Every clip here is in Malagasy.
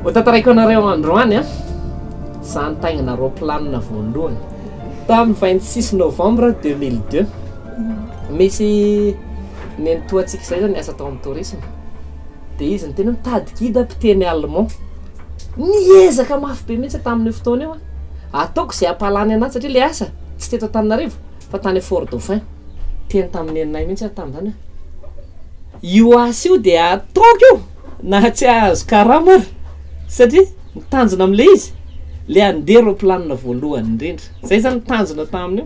Hotantaraiko anareo androany an, za nitaingina aeroplanina voalohany tamin'ny 26 novembre 2002. Misy nenitoa antsika izay zany niasa tao amin'ny tourisme, de izy no tena nitady guide mpiteny allemand. Niezaka mafy be mihitsy tamin'io fotoana io an, ataoko izay hampahalany anazy satria le asa tsy teto Antananarivo. Fa tany à fort dauphin. Teny tamin'ny neninay mihitsy aho tamin'izany hoe io asa io dia ataoko io na tsy hahazo karama ary satria ny tanjona amin'ilay izy le andeha roplanina voalohany indrindra. Zay zany ny tanjona tamin'io.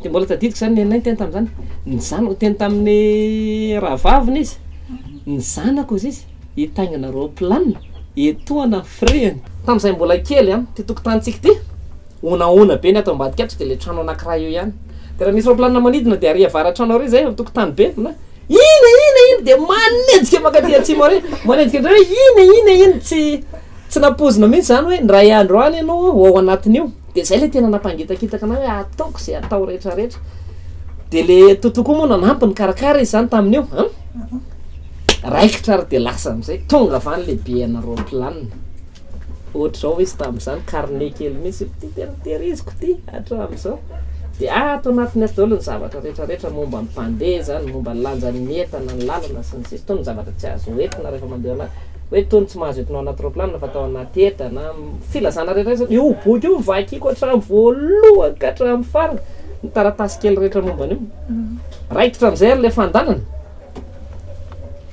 Dia mbola tadidiko zany neninay teny tamin'izany. Ny zanako teny tamin'ny rahavaviny izy. Ny zanako hozy izy hitaingina roplanina etoana ny firehiny. Tamin'izay mbola kely a, ty tokotanintsika ty. Honahona be ny ato ambadika ato dia ilay trano anankiray eo ihany dia raha misy raoplanina manidina dia ary avaratrano ary izay antokotany be na ina ina ina dia manenjika mankaty atsimo ary manenjika indray hoe ina ina ina tsy tsy nampoizina mihitsy izany hoe indray andro any ianao ho ao anatin'io dia izay ilay tena nampangitakitaka anay hoe ataoko izay atao rehetra rehetra dia le toto koa moa nanampy ny karakara izy izany tamin'io a raikitra ary dia lasa amin'izay tonga avy any le be anareo planina Ohatr'izao izy tamin'izany, carnet kely mihitsy, ity tena tehiriziko ity hatramin'izao. Dia ato anatiny ato daholo ny zavatra rehetra rehetra momba ny mpandeha izany, momba ny lanjan'ny entana, ny lalana sy ny sisa. Itony ny zavatra tsy azo entina rehefa mandeha ao anaty, hoe itony tsy mahazo entina ao anaty roplanina fa atao anaty entana, filazana rehetra rehetra. Io boky io no vakiko hatramin'ny voalohany ka hatramin'ny farany, ny taratasy kely rehetra momba an'io. Raikitra amin'izay ary ilay fandanana.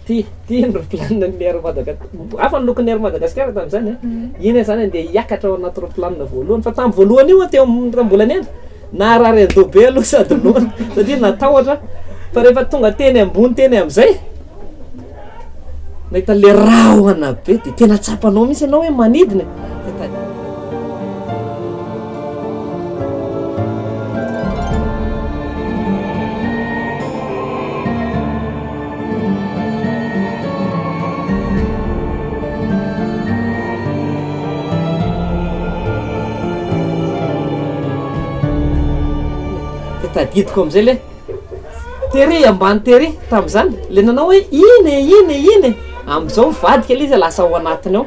Ty, ty ny roplanina ny Air Madagascar, hafa ny lokon'ny Air Madagascar tamin'izany a, iny aho zany ndeha hiakatra ao anaty roplanina voalohany, fa tamin'ny voalohany io aho teo amin'ny raha mbola niaina, naharary an-doha be aloha sady noana satria natahotra, fa rehefa tonga teny ambony teny amin'izay, nahita le rahona be dia tena tsapanao mihintsy ianao hoe manidina e. tadidiko amizay le tery ambany tery tamizany le nanao hoe iny e iny e iny e amizao mivadika le izy lasa ao anatiny ao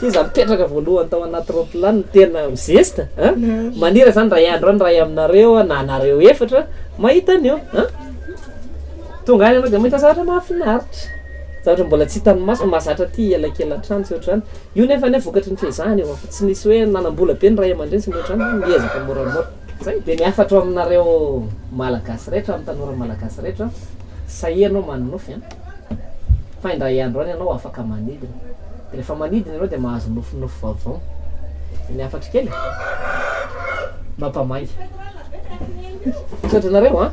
Ty za mipetraka voalohany tao anaty roplanina tena mizesta a! manira zany ray andro any ray aminareo a! na nareo efatra mahita an'io a! tonga any ianao de mahita zavatra mahafinaritra zavatra mbola tsy hitan'ny maso mahazatra aty elakelan-trano tsy ohatr'izany io nefa anie vokatry ny fehezahana io fa tsy nisy hoe nanam-bola be ny ray aman-dreny sy ny ohatr'izany fa miezaka moramora zay de ny hafatro aminareo malagasy rehetra amin'ny tanora malagasy rehetra sahia ianao manonofy a! fa indray andro any ianao afaka manidina, dia rehefa manidina ianao dia mahazo nofinofy vaovao, eny hafatro kely e! mampamangy. Misaotra anareo an!